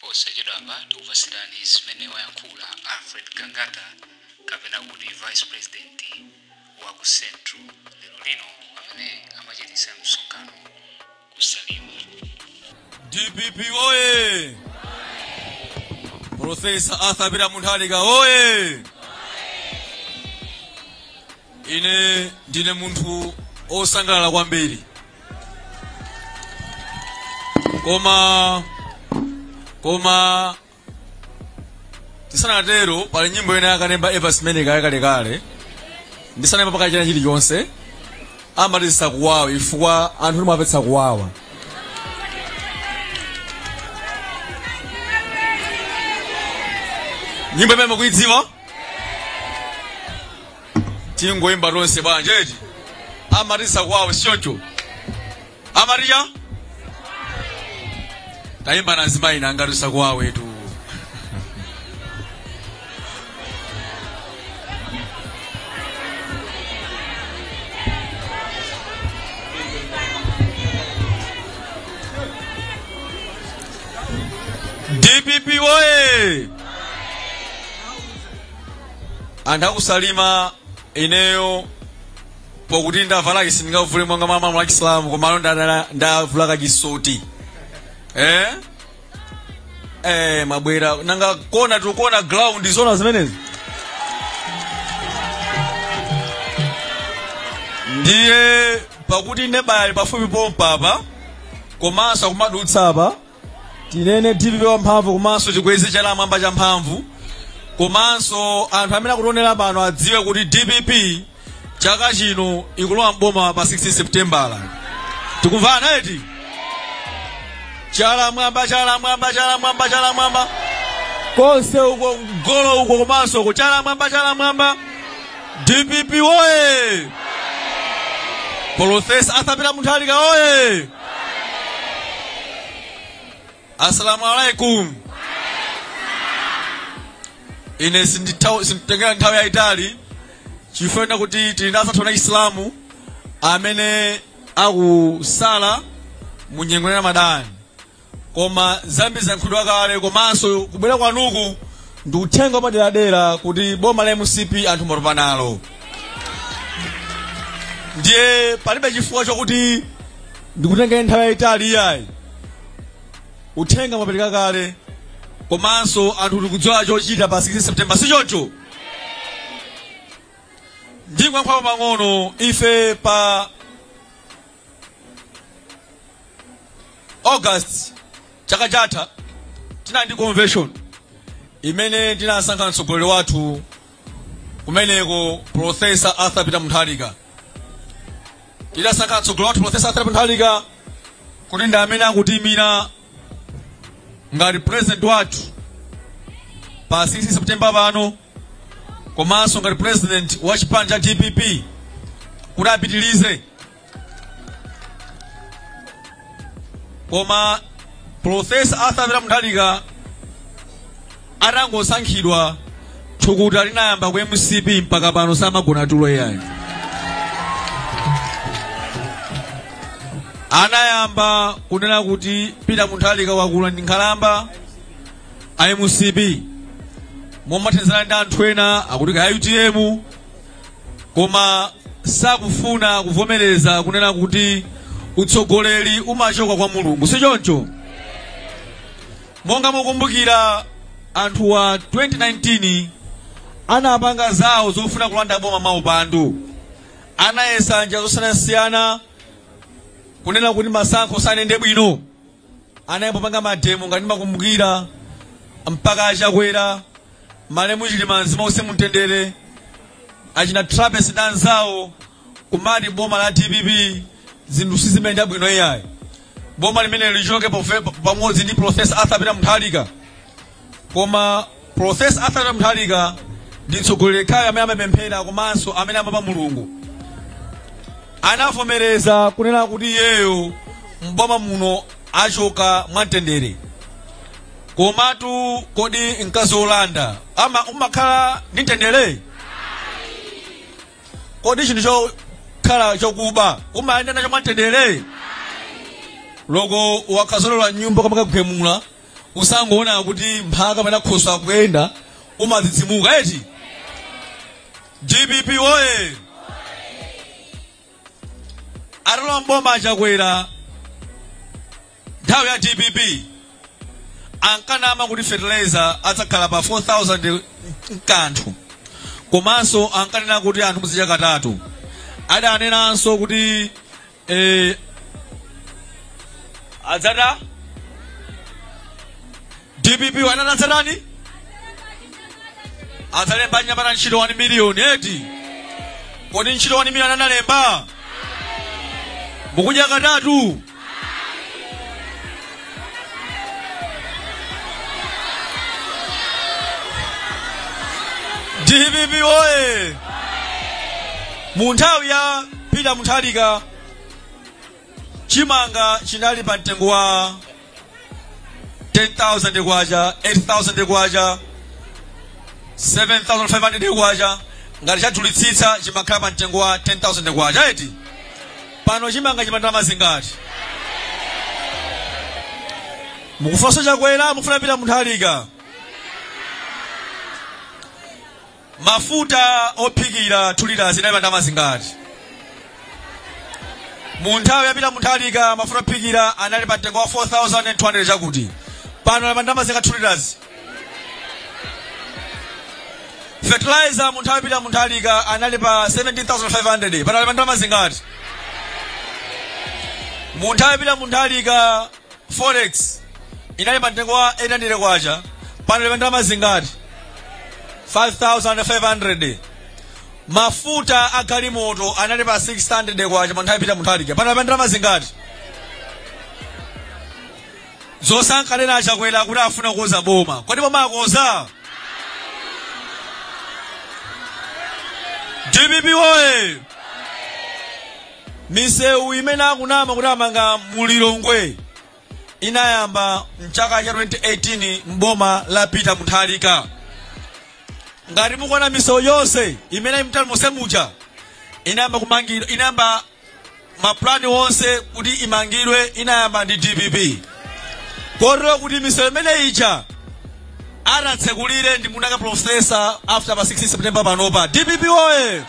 Posachedwapa tikupatsirani zimene wayankhula Alfred Gangata kapena kuti Vice President wa ku Central lero lino pamene amachititsa msonkhano ku Salima. DPP oye! Profesa Arthur Peter Mutharika oye! Ine ndine munthu osangalala kwambiri koma koma tisanatero pali nyimbo ina ya Evans Meleka yakalekale ndisanayambe pa kachina chilichonse amati zisakuwawe chifukwa anthu timapetsa kuwawa nyimbo imene mukuidziwa tingoyimba tonse bwanji eti amati zisakuwawe sichoncho amati chani tayimbani azimayi nanga zisakuwawetu dpp woye anthu akusalima ineyo pokuti ndavala cap sindingavule monga mwa malamulo a chisilamu komano ndadala- ndavula kachisoti eh? eh, mabwera nanga kuno tikuona ground zona zimenezi ndiye pakuti neba ali pafupi pompapa komanso akumadutsa apa tinene dpp wamphamvu komanso tikweze chala mmwamba champhamvu komanso anthu amene akutionera pano adziwe kuti dpp chaka chino ikulowa mboma pa 16 septembala tikumvana eti chala mmwamba chala mmwamba chala mmwamba chala mmwamba konse uko mgolo uko komanso uko chala mmwamba chala mmwamba dpp woye polofesa Arthur Peter Mutharika woye assalamu alaikum ine sinditha- sinditenga nthawi yayitali chifukwa kuti tili ndi anzathu a chisilamu amene akusala mu nyengo ya ramadani koma zambiri zayankhulidwa kale komanso kubwera kwanuku ndi uthenga wapaderadera kuti boma la mcp anthu mwatopa nalo ndiye palibe chifukwa chokuti ndikutengeni nthawi yayitali iyayi uthenga mwapereka kale komanso anthu tikudziwa chochita pa 16 september si choncho ndikankhapo pang'ono ife pa august chaka chatha tinali ndi convention imene tinasankha mtsogoleri wathu kumeneko professor arthur peter mutharika tidasankha mtsogoleri wathu professor arthur peter mutharika kuti ndi amene akutiimira ngati president wathu pa 16 september pano komanso ngati president wa chipani cha dpp kuti apitilize koma profesa arthur peter mutharika atangosankhidwa thukuta linayamba ku mcp mpaka pano samagona tulo iyayi anayamba kunena kuti peter mutharika wakula ndi nkhalamba a mcp mothandizana ndi anthu ena akuti ka utm koma sakufuna kuvomereza kunena kuti utsogoleri umachoka kwa mulungu si choncho monga mukumbukira anthuwa 2019 anapanga zawo zofuna kulanda boma mwaupandu anayesa njira zosiyanasiyana kunena kuti masankho sanayende bwino anayamba kupanga mademo ngati mukumbukira mpaka achakwera malemu chilima mzimu wawo uuse mumtendere achina trapence ndi anzawo kumati boma la dpp zinthu sizimayenda bwino iyayi boma limeneli lichoke pofe- pamodzi ndi profesa arthur peter mutharika koma profesa arthur mutharika ndi mtsogoleri yekhayo amene amapemphera komanso amene amaopa mulungu anavomereza kunena kuti iyeyo mboma muno achoka mwamtendere komatu kodi mkazi wolanda ama umakhala ndi mtendere kodi chinthu chokhala chokuba umayenda nacho mwamtendere loko wakhazolola nyumba kamakagwemula ukangoona kuti mphaka kapena khoswe akuyenda umadzidzimuka eti dpp oye atalowa mboma achakwera nthawi ya dpp ankanama kuti fertilizer adzakhala pa 4000 nkanthu komanso ankanena kuti anthu muzidzadya katatu adanenanso kuti eh, adzata dpp anati adzatani adzalemba anyamata ntchito 1 miliyoni eti kodi ntchito 1 miliyoni analemba mukudya katatu dpp oye mu nthawi ya peter mutharika chimanga chinali pa mtengo wa 10000 kwacha 8000 kwacha 7500 kwacha ngati chadulitsitsa chimakhala pa mtengo wa 10000 kwacha eti pano chimanga chili pa ndalama zingati mukufuna chakwera mufuna peter mutharika mafuta ophikira 2 liters inali ndalama zingati mu nthawi ya peter mutharika mafuta ophikira anali pa mtengo wa 4200 chakuti pano ali pa ndalama zingati 2 liters fertilizer mu nthawi ya peter mutharika anali pa 17500 pano ali pa ndalama zingati mu nthawi ya peter mutharika Forex inali pa mtengo wa 800 kwacha pano ili pa ndalama zingati 5500 mafuta a galimoto anali pa 600 kwacha mu nthawi ya peter mutharika pano ali pa ndalama zingati zonse ankanena achakwera kuti afuna kukonza boma kodi boma akonza dpp oye misewu imene akunama kuti amanga mu lilongwe inayamba mchaka cha 2018 mboma la peter mutharika ngati mukuona misewu yonse imene ili mtauni monse muja inayamba kumangidwa inayamba mapulani onse kuti imangidwe inayamba ndi dpp kotero kuti misewu imene ija adzatsekulire ndi muna ka professor after pa 16 september panopa dpp oye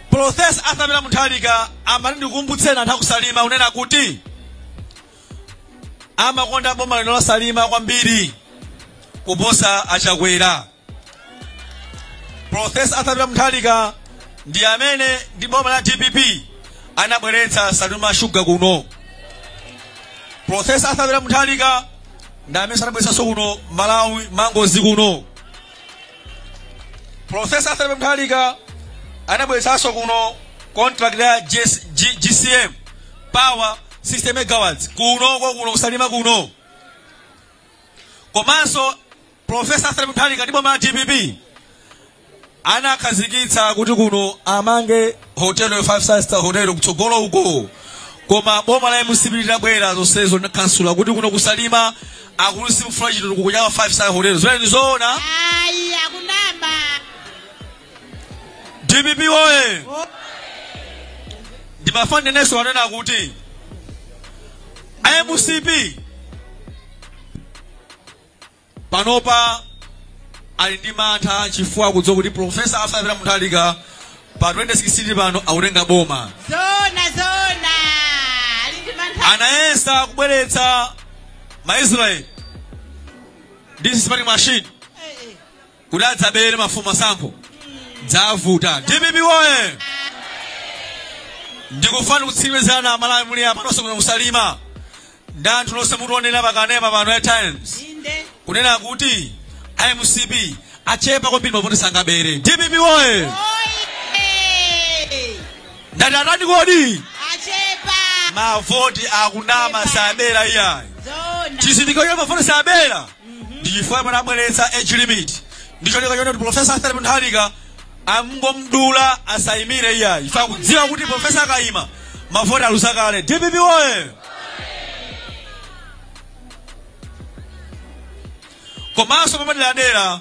professor arthur peter mutharika amati ndikumbutseni anthu akusalima kunena kuti amakonda boma lino la salima kwambiri kuposa achakwera profesa arthur peter mutharika ndi amene ndi boma la dpp anabweretsa salima sugar kuno profesa arthur peter mutharika ndi amene anabweretsanso kuno malawi mangoes kuno profesa arthur peter mutharika anabweretsanso kuno contract ya JC J- jcm power 60 megawatts kuno kwa kuno kusalima kuno komanso Professor Peter Mutharika ndi boma la dpp anakhazikitsa kuti kuno amange hotel ya five star hotel kutsogolo uko koma boma la mcp litabwera zonsezo anakhansula kuti kuno kusalima akuti simufuna chitukuko cha five star hotel zimene ndizoona ayi akunama dpp oye ndimafuna ndinenenso kunena kuti mcp panopa ali ndi mantha chifukwa akudziwa kuti profesa Arthur Peter Mutharika pa 2016 pano akutenga boma zona zona ali ndi mantha anayesa kubweretsa maisraeli ndi spy machine kuti adzabere mafumu masankho zavuta dpp woye ndikufuna kutsimikizirani amalawi muli apa nonse kuno kusalima ndi anthu nonse mutionera pakanema pano ya times inde kunena kuti mcp achepa kwambiri mavoti sangabere dpp woye oye ndati atani kodi achepa mavoti akunama sabera iyayi zona chizindikiro cha mavoti sabera ndi chifukwa chimene abweretsa age limit ndi cholinga chonena kuti profesa Arthur Peter Mutharika angomdula asayimire iyayi chifukwa akudziwa kuti profesa akayima mavoti aluza kale dpp woye komanso mwapaderadera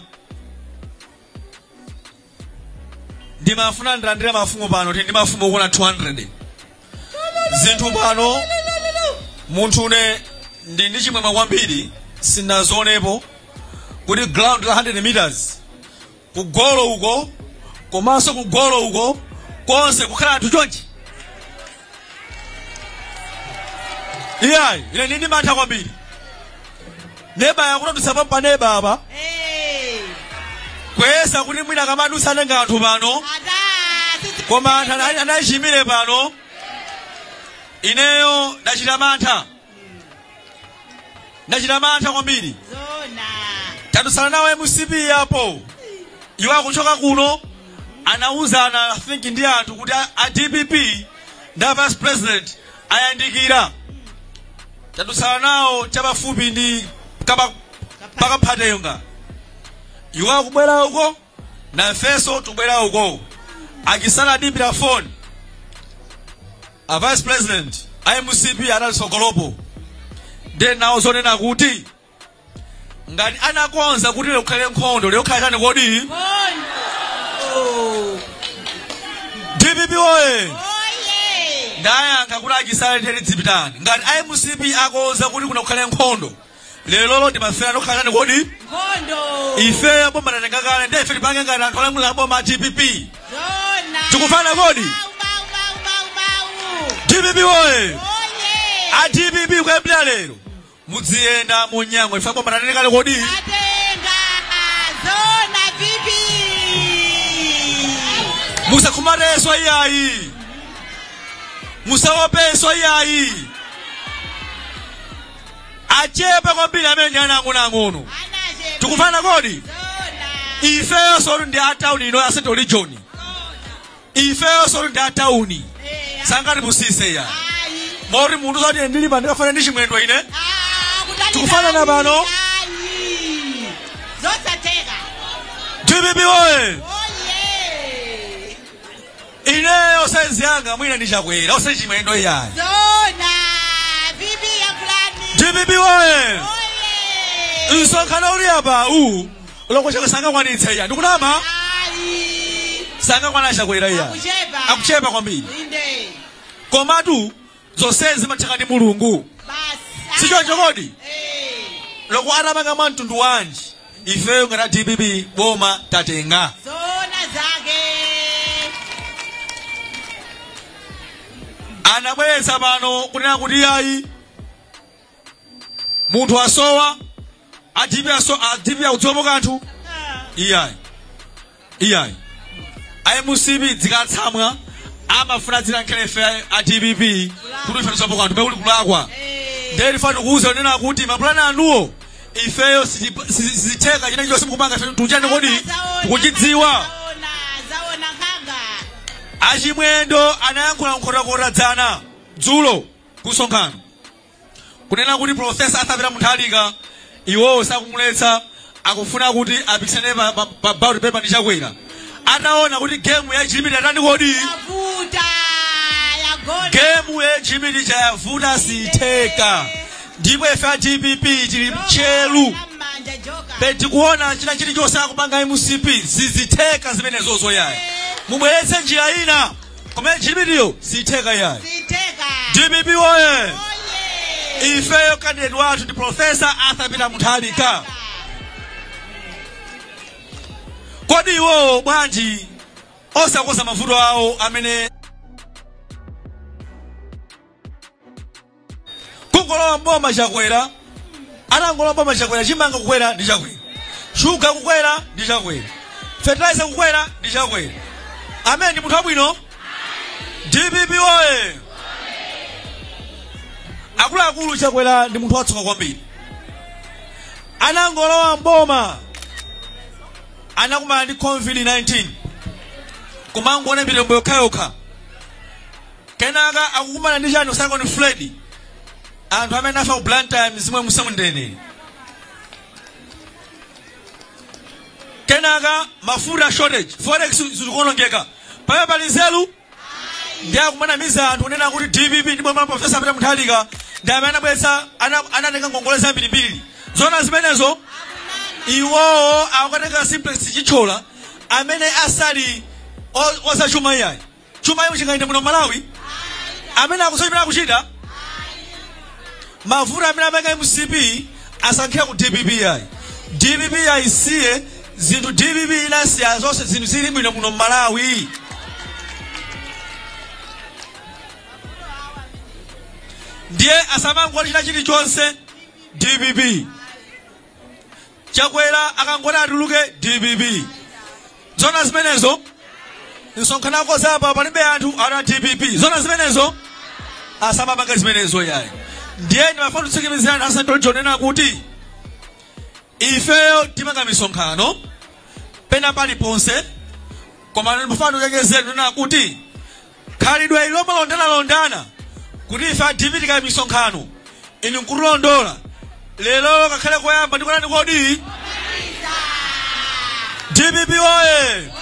ndimafuna ndilandire mafumu pano tili ndi mafumu okwana 200 zinthu pano munthune ndili ndi chimwemwe kwambiri sindazionepo kuti ground la 100 meters kugolo uko komanso kugolo uko konse kukhala anthu chonchi iyayi ine ndili ndi mantha kwambiri neba yakutadutsa pa neba apa Eh, kuyesa kuti mwina kamadusa atenga anthu pano ada, sisi- koma anthu ana- anachimire pano ineyo ndachita mantha ndachita mantha kwambiri zona tadutsana nawo a mcp apo iwo akuchoka kuno anawuzana i think ndi anthu kuti a- a dpp ndi a vice president ayandikira tadutsana nawo chapafupi ndi kapa- pakaphatenga iwo akubwera uko nafenso tubwera uko a Chisale andiimbira phone a vice president a mcp anali tsogolopo nde ndawauza kunena kuti ngati anakonza kuti lero kukhale nkhondo lero kukhala chani kodi dpp oye ndayankha kuti a Chisale tiyeni dzipitani ngati a mcp akonza kuti kuno kukhale nkhondo lero ndimafera lokhala tani kodi Nkhondo. ifeyo boma latenga kale ndi ife tipange ngati anthu olamula boma a dpp Zona. Tikumvana kodi? Bau, bau, bau, bau, bau. dpp oye Oye. a dpp kuyambira lero mudziyenda munyangwe ife boma latenga kale kodi Atenga. Zoona VP? musakhumatenso iyayi musaopenso iyayi achepa kwambiri amene ndi ana ang'onoang'ono tikumvana kodi ifeyonsotu ndi a town ino ya central region ifeyonsotu ndi a town sangatipusitse ayi moti munthu zoti ndili pano ndikufanana ndi chimwendo ine tikufanana pano zosatheka dpp oye Ineyo size yanga mwina ndi chakwera osati chimwendo iyayi. Zoona VP yakulani. Dpp woye. Oye. Msonkhano uli apa uwu loko chakwera sangakwanitse iyayi ndikunama Ayi. sangakwanitse chakwera iyayi Kuchepa. akuchepa kwambiri Inde. komatu zonsezi zikutheka ndi mulungu Basi. sichoncho kodi Eh. loko atapanga mwa mtundu wanji ifeyo ngati a dpp boma tatenga Zoona zake. anabweretsa pano kunena kuti ayi munthu asowa a dpp aso a dpp akudziwapo kanthu iyayi iyayi a mcp zikatsamwa amafuna adzinamizira ife a dpp kuti ife tidziwapo kanthu pekuli kulakwa ndee tifuna tikuuzeni kunena kuti mapulani anuwo ifeyo siti- si- sizitheka china chonse mukupanga ife tikuchani kodi tikuchidziwa achimwendo anayankhula nkhotakota dzana dzulo kusonkhano kunena kuti profesa arthur peter mutharika iwowo sakumuletsa akufuna kuti apikisane pa- pa- pa ballot paper ndi chakwera ataona kuti gemu ya jimmy yatani kodi yavuta yagona gemu ya jimmy ija yavuta siyitheka ndipo ife a dpp tili tcheru manja mokha bedi kuona china chilichonse akupanga mcp sizitheka zimenezo iyayi mubweretse njira ina koma ya jimmy iyo siyitheka iyayi siyitheka dpp woye oye ifeyo kandidate wathu ndi profesa arthur peter mutharika kodi iwowo bwanji osakonza mavuto awo amene kungolowa mboma chakwera anangolowa mboma chakwera chimanga kukwera ndi chakwera shuga kukwera ndi chakwera fertilizer kukwera ndi chakwera amene ndi munthu wabwino dpp oye akuluakulu chakwera ndi munthu watsoka kwambiri anangolowa mboma anakumana ndi covid 19 kumangoona mitembo yokhayokha kenaka akukumana ndi chani cyclone fred anthu amene afa ku blantyre mizimu iuse mumtendere kenaka mafuta shortage forex zikuonongeka pamene pali nzeru ndiye akumanamiza anthu kunena kuti dpp ndi boma la profesa peter mutharika ndi amene anabweretsa ana- anatenga ngongole zambirimbiri zona zimenezo iwowo akukatenga simplex chithyola amene asali o- ozachuma iyayi chuma iwo chingayende muno m'malawi amene akusochimene akuchita mavuto amene apanga mcp asakankhire ku dpp ayi dpp ayisiye zinthu dpp inasiya zonse zinthu zili bwino muno m'malawi ndiye asamangoti china chilichonse dpp chakwera akangoti atuluke dpp zona zimenezo msonkhano akonza apa palibe anthu ana dpp zona zimenezo asamapange zimenezo yayi ndiye ndimafuna kutsikimizirani atsogoleri kunena kuti ifeyo timapanga misonkhano pena paliponse koma ndimafuna ndikuchenjezeni kunena kuti Khalidwe ili lomalondanalondana kuti ife a dpp tikaya misonkhano inu nkutilondola, lero kakhale koyamba ndi kotani kodi? Dpp woye!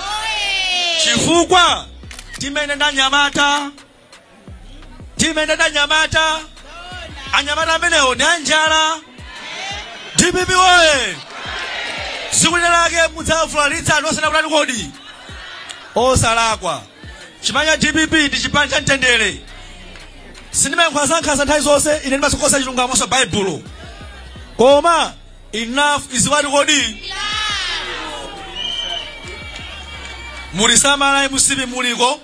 Chifukwa timayenda ndi anyamata, timayenda ndi anyamata, anyamata amenewo ndi anjala. Dpp woye! Tsiku lina lake mudzavulalitsa anthu osati kutani kodi? Osalakwa. chipani cha dpp ndi chipani cha mtendere sindimayankhula za nkhanza nthawi zonse ine ndimasokosa chilungamonso baibulo koma enough is what kodi mutisamale mcp muliko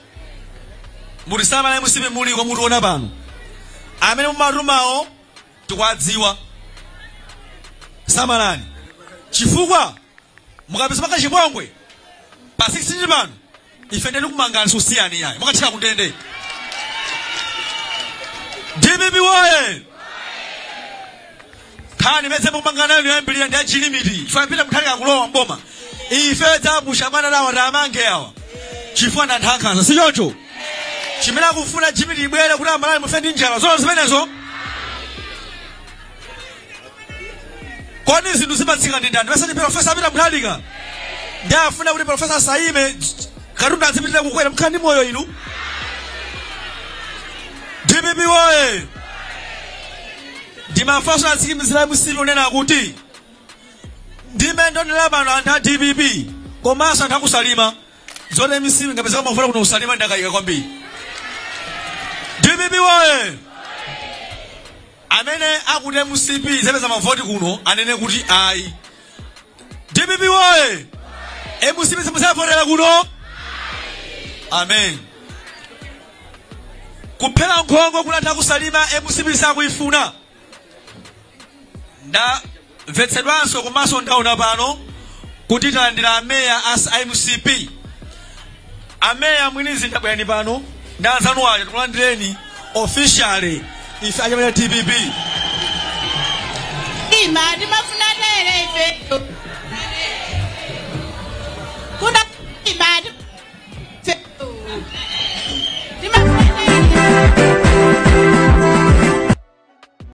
mutisamale mcp muliko mutiona pano amene mumatumawo tikuwadziwa samalani chifukwa mukapisa paka chipongwe pa 16 pano ife ndiye tikumangani sitikusiyani iyayi mukathere kundende dpp woye nkhani imene tikumanga nayo yoyambirira ndi achilimiti chifukwa pita muthalika akulowa mboma ife tidzapusha bwana tawamange awa chifukwa ndi anthu ankhanza si choncho chimene akufuna chilimiti ibwere kuti amalawi mufe ndi njala zoona zimenezo kodi zinthu zimatsika ndi ndani si ndi profesa apita muthalika ndiye afuna kuti profesa asayime katundu azipitira kukwera mukhala ndi moyo inu dpp woye ndimafunanso atsimikizire mcp kunena kuti ndi mmene ndaonera pano anthu a dpp komanso anthu akusalima zoti mcp ingapezeko mavoti kuno kusalima ndakayika kwambiri dpp woye Amene akuti mcp sizapeza mavoti kuno anene kuti ayi. Dpp woye! Mcp simuzavotera kuno? Amen. Kuphera nkhongo kunatha kusalima mcp sakuifuna. Nda Mvetsedwanso komanso ndaona pano kuti talandira ameya aja a mcp ameya mwini mzinda bwerani pano ndi anzanu aja tikulandireni officially ife anyamata a dpp ima timafuna tere ife kuna ima timafuna tere